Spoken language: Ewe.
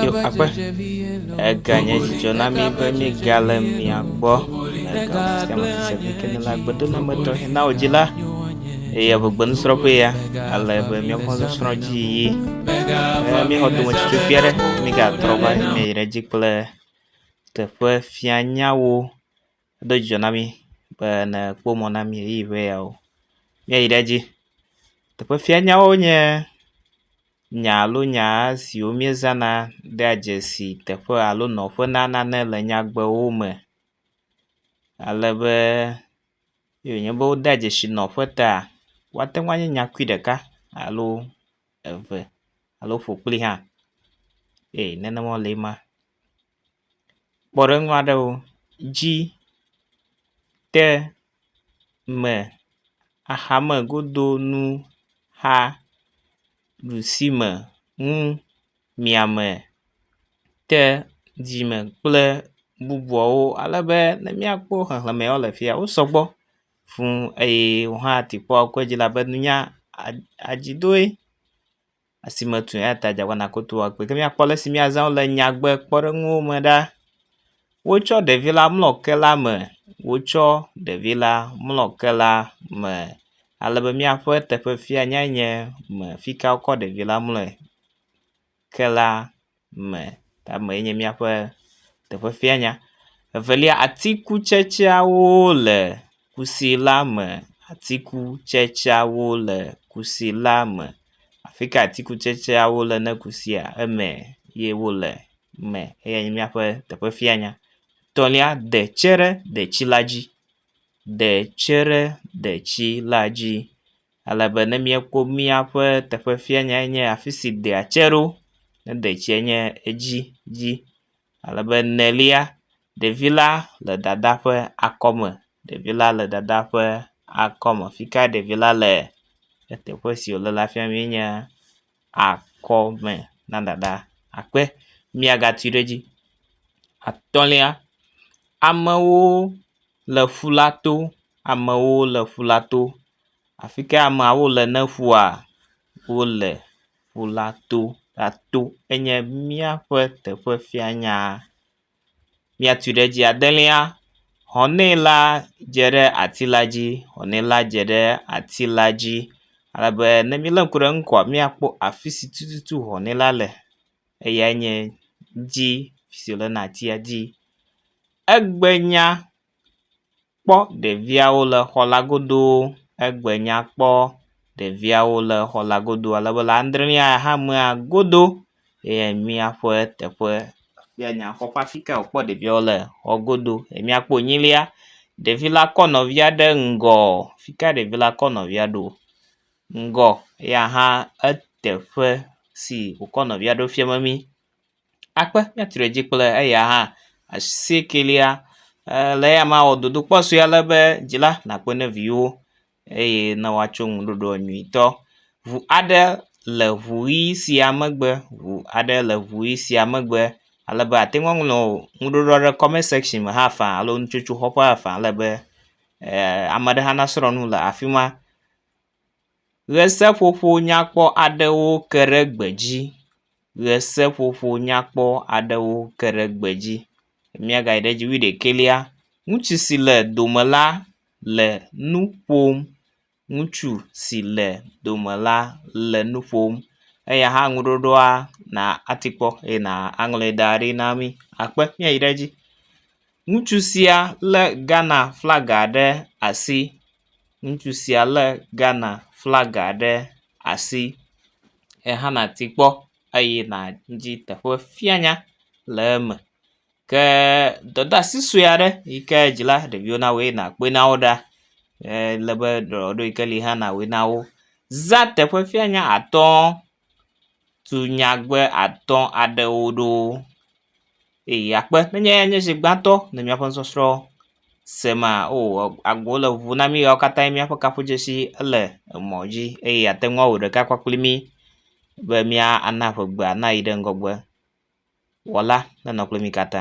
Yehowa ƒe eganye dzidzɔ na mí be míegale mia gbɔ le gama sia me se vi ke ne le agbedoname tɔxɛ na wò dzi la eye eŋugbe nusrɔ̃ƒe ya ale be míaƒe nusrɔ̃ dzi yiyi ne míexɔ dometsotsɔ vi aɖe mígatrɔ va yi me yi ɖe edzi kple teƒe fianyawo Edo dzidzɔ na mí be ne ekpɔ mɔ na mí ʋeyiʋi ƒe yawo míayi ɖe edzi. Teƒe fia nyawo nye nya alo nya siwo míezãna dea dzesi teƒe alo nɔƒe na nane le nyagbewo me ale be ne wònye be wodea dzesi nɔƒe ta woate ŋu anye nyakui ɖeka alo eve alo ƒokpli hã. Ee nenema wole ema. Kpɔɖeŋu aɖewo dzi te me axame godo nu xa ɖusi me nu miame te dzime kple bubuawo ale be ne míakpɔ xexlemewo le fia wo sɔgbɔ fuu eye wohã atikpɔ ƒe dzilaƒe nunya adzidoe. asi metu o eya ta dze abe nàkoto wɔ kpee. Ke míakpɔ ale si míazã wo le nyagbekpɔɖeŋuwo me ɖa. Wotsɔ ɖevi la mlɔ ke la me. Wotsɔ ɖevi la mlɔ ke la me ale be míaƒe teƒefia nya nye me fi ka wokɔ ɖevi la mlɔe ke la. me tamee nye míaƒe teƒe fianya. Evelia atikutsetseawo le kusi la me. Atikutsetseawo le kusi la me. Afi ka atikutsetseawo le ne kusia? Eme ye wo le me eya nye míaƒe teƒe fianya. Etɔ̃lia de tse ɖe detsi la dzi. De tse ɖe detsi la dzi. ale be ne míekpɔ míaƒe teƒe fia nya enye afi si dea tse ɖo. Ne detsia nye edzi dzi ale be enelia ɖevi la le dada ƒe akɔme. Ɖevi la le dada ƒe akɔme. Fi ka ɖevi la le eteƒe si wo le la fia be enye akɔme na dada akpe miagatui ɖe edzi. Atɔ̃lia, amewo le ƒu la to. Amewo le ƒu la to Afi ka ameawo le ne ƒua, wole ƒu la to, ato enye míaƒe teƒe fia nyaa. Míatui ɖe edzi adelia, hɔnɛ la dze ɖe ati la dzi, hɔnɛ la dze ɖe ati la dzi ale be ne míele ŋku ɖe eŋu koa, míakpɔ afi si tututu hɔnɛ la le, eyae nye dzi si wòle na atia dzi. Egbe nya. Kpɔ ɖeviawo le xɔ la godo. Egbe nya kpɔ ɖeviawo le xɔ la godo ale be le adre mía axamea godo eye míaƒe teƒe fia nya kpɔ ƒe afi ka wokpɔ ɖeviawo le xɔ godo. Míakpɔ enyilia ɖevi la kɔ nɔvia ɖe ŋgɔ. Afi ka ɖevi la kɔ nɔvia ɖo? Ŋgɔ eya hã eteƒe si wokɔ nɔvia ɖo fia memi. akpe míatri ɖe edzi kple eya hã. Asiekelia eh le eya me awɔ dodokpɔ sue ale be dzila nakpe ne viwo eye ne woatso nu ɖoɖoa nyuitɔ. Ŋu aɖe le ŋu ʋi sia megbe ŋu aɖe le ŋu ʋi sia megbe ale be ate ŋu aŋlɔ nuɖoɖo aɖe comment section me hã faa alo nutsotsoxɔƒea faa ale be eh ame aɖe hã nasrɔ̃ nu le afi ma. Ʋeseƒoƒo nyakpɔ aɖewo ke ɖe gbe dzi. Ʋeseƒoƒo nyakpɔ aɖewo ke ɖe gbe dzi. Míagayi ɖe edzi wuiɖekɛlia, ŋutsu si le dome la le nu ƒom. Ŋutsu si le dome la le nu ƒom. Eya hã ŋuɖoɖoa na ate kpɔ eye na aŋlɔe da ɖi na mí akpe. Míayi ɖe edzi. Ŋutsu sia lé Ghana flaga ɖe asi Ŋutsu sia lé Ghana flaga ɖe asi ehe nɔ asi kpɔm eye nɔ edzi teƒe fia nya le eme ke dɔdeasi sue aɖe yi ke dzila ɖeviwo na woe nɔ kpɔe na wo ɖa ele be dɔ aɖewo yi ke li hã nɔ woe na wo. Za teƒe fia nya atɔ tu nyagbe atɔ aɖewo ɖo eye akpe be nye nye esi gbãtɔ le miaƒe sɔsrɔ se ma o agbo le ʋu na mi ɣe ma katã miaƒe kaƒo dzesi le emɔ dzi eye ate ŋu awu ɖeka kɔ kpli mi be mía na ƒe gbe nayi ɖe ŋgɔgbe. Wɔla nenɔ kpli mi katã.